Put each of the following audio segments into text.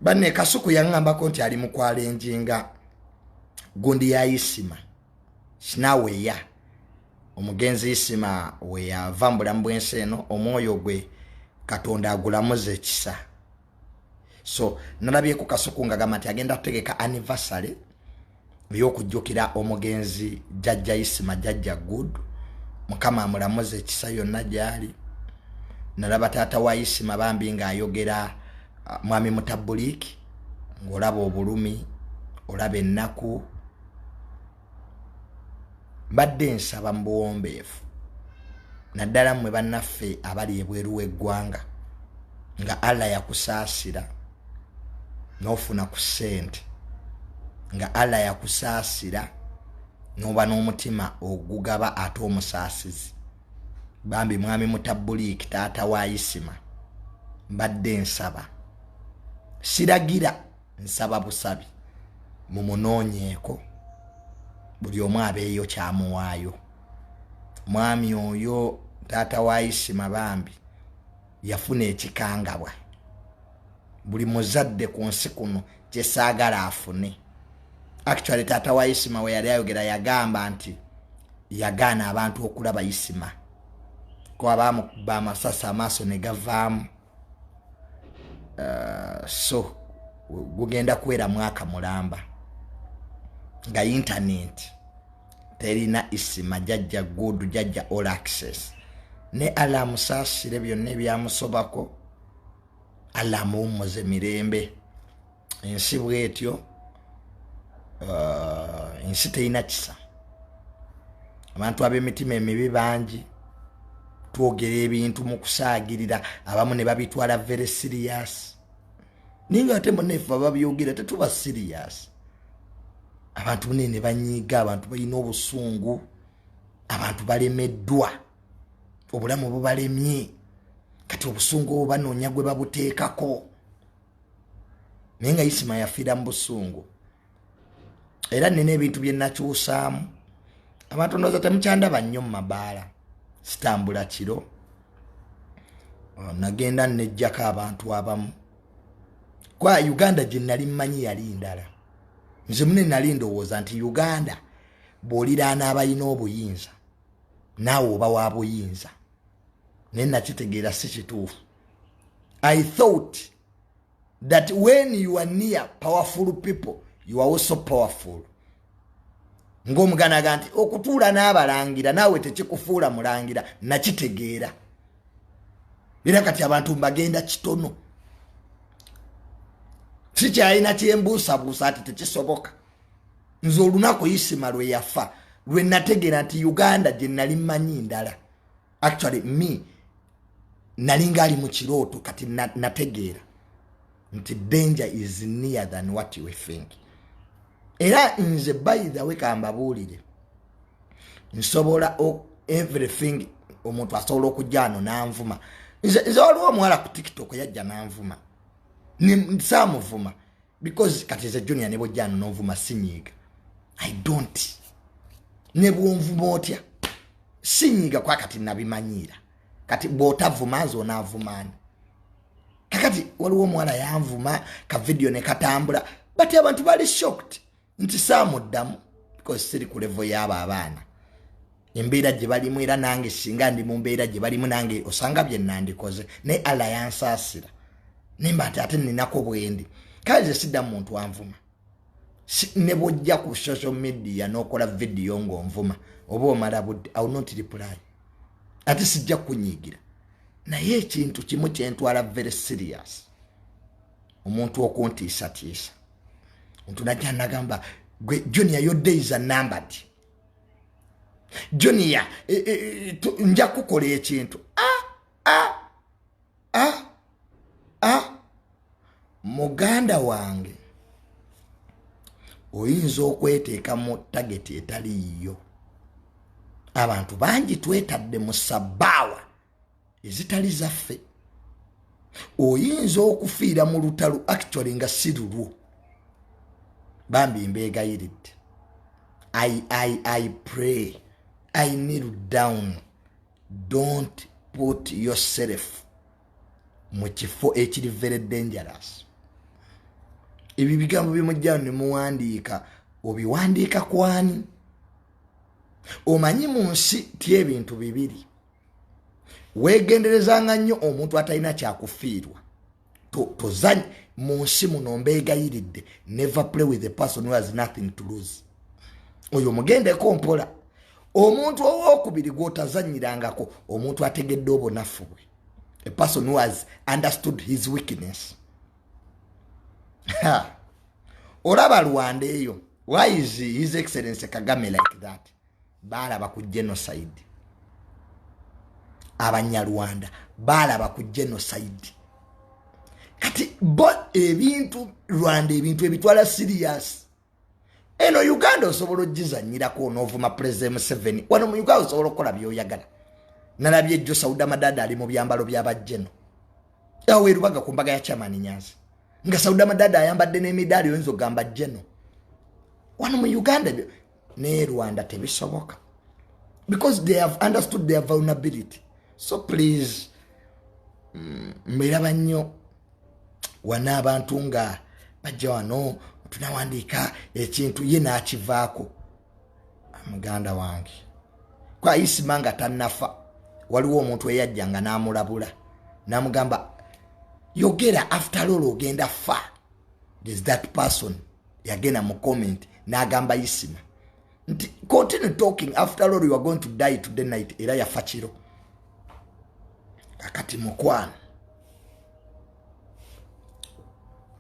banne kasuku yaŋŋambako nti ali mukwala enjinga gundi ya isima sinaweya omugenzi isima weyava mu bulamu bw'ensi eno omwoyo gwe katonda agulamuza ekisa so nalabyeko kasuku nga gamba nti agenda ategeka anniversary ey'okujjukira omugenzi jajja isima jajja good mukama amulamuza ekisa yonna gyali nalaba taata wa isima bambi ng'ayogera uh, mwami mutabuliiki ng'olaba obulumi olaba ennaku mbadde nsaba mu buwombeefu naddala mmwe bannaffe abali ebweru w'eggwanga nga allah yakusaasira nofuna ku sente nga allah yakusaasira noba n'omutima ogugaba ate omusaasizi bambi mwami mutabuliiki taata wa isima mbadde nsaba siragira nsaba busabi mumunoonyeeko buli omu abeeyo kyamuwaayo mwami oyo taata wa isima bambi yafuna ekikangabwa buli muzadde ku nsi kuno kyesaagala afune actually taata wa isima we yali ayogera yagamba nti yagaana abantu okulaba isima kuba bamukuba amasasi amaaso ne gavaamu uh, so gugenda kuwera mwaka mulamba nga intaneti terina isima jajja good jajja all access ne ala amusaasire byonna ebyamusobako ala amuwummuze mirembe ensi bwetyo uh, ensi terina kisa abantu ab'emitima emibi bangi twogera ebintu mu kusaagirira abamu ne babitwala very serious naye nga ate munefe bababyogera tetuba serious abantu bune ne banyiiga abantu balina obusungu abantu balemeddwa obulamu bubalemye kati obusungu obwo banoonya gwe babuteekako naye nga isima yafiira mu busungu era nina ebintu bye nakyusaamu abantu ndowooza temukyandaba nnyo mu mabaala sitambula kiro nagenda nejjako abantu abamu kwa uganda gye nali mmanyi yali ndala nze mune nali ndowooza nti uganda bw'oliraana abalina obuyinza naawe oba wa buyinza naye nakitegeera si kituufu i thought that when you are near powerful people you are also powerful ng'omuganda aga nti okutuula n'abalangira naawe tekikufuula mulangira nakitegeera era kati abantu mbagenda kitono sikyalina kyembuusabuusa ati tekisoboka nze olunaku isima lwe yafa lwe nategeera nti uganda gye nali mmanyi ndala actually me nalinga ali mu kirooto kati nategeera nti danger is near than what you think era nze by the way kambabuulire nsobola everything omuntu asobola okujja ano nanvuma nze waliwo omuwala ku tiktok yajja nanvuma samuvuma because kati nze junior ne bwojja nonvuma sinyiiga i don't ne bwonvuma otya sinyiiga kwa kati nabimanyiira kati bwotavuma nze onavumani kakati waliwo omuwala yanvuma ka vidiyo ne katambula but abantu bali shocked nti saamuddamu because siri ku levo yaabo abaana embeera gye balimu era nange singa ndi mu mbeera gye balimu nange osanga bye nandikoze naye allah yansaasira nemba nti ate ninako bwendi kale ze sidda mu muntu anvuma ne bwojja ku social media n'okola vidiyo ng'onvuma oba omala budde awo notiripulayi ate sijja kunyiigira naye ekintu kimu kyentwala very serious omuntu okuntiisatiisa ntunajja nagamba gwe junior your days are numbered junior e, e, e, nja kukola ekintu ah, ah, ah, ah. muganda wange oyinza okweteeka mu tageti etali yiyo abantu bangi twetadde mu sabbaawa ezitali zaffe oyinza okufiira mu lutalo actually nga si lulwo bambi mbeegayiridde i i i pray i kneel down don't put yourself mu kifo ekiri very dangerous ebyo bigambo bimujjao ne muwandiika obiwandiika kwani omanyi mu nsi ti ebintu bibiri weegenderezanga nnyo omuntu atalina kyakufiirwa tozany mu nsi muno mbeegayiridde never play with a person who has nothing to lose oyo mugendeko mpola omuntu owokubiri gwotazanyirangako omuntu ategedde obunafu bwe a person who has understood his weakness olaba rwanda eyo why is his excellence kagame like that baalaba ku genocide abanyarwanda baalaba ku genocide kati bo ebintu rwanda ebintu ebitwala sirias eno uganda osobola ogizanyirako onoovuma pulezida museveni wano mu uganda osobola okukola byoyagala nalabye ejjo sauda madada ali mu byambalo byabajeno awo erubaga ku mbaga ya chamani nyanzi nga sauda madada ayambadde n'emidaali oyinza ogamba jeno wano mu uganda naye rwanda tebisoboka because they have understood their vulnerability so please mm, mbiraba nnyo wana abantu nga bajja wano tunawandiika ekintu ye nakivaako muganda wange kwayisima nga tanafa waliwo omuntu eyajja nga namulabula namugamba yogera after all ogenda fa there's that person yagenda mu comment n'agamba isima nti continue talking after all you are going to die today night era yafa kiro kakati mukwano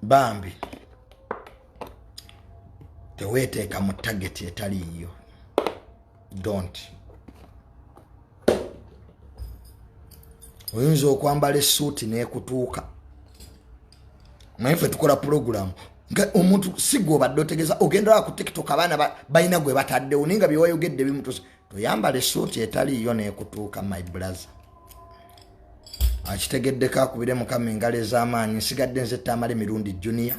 bambi teweeteeka mu tageti etaliiyo don't oyinza okwambala esuuti nekutuuka naye fe tukola pulogulamu nga omuntu sigwe obadde otegeza ogendaa ku tiktok abaana balina gwe bataddewo naye nga byewayogedde bimutusa toyambala esuuti etaliiyo nekutuuka my blaze akitegeddeko akubire mukama engalo ez'amaanyi nsigadde nze ttaamala emirundi junior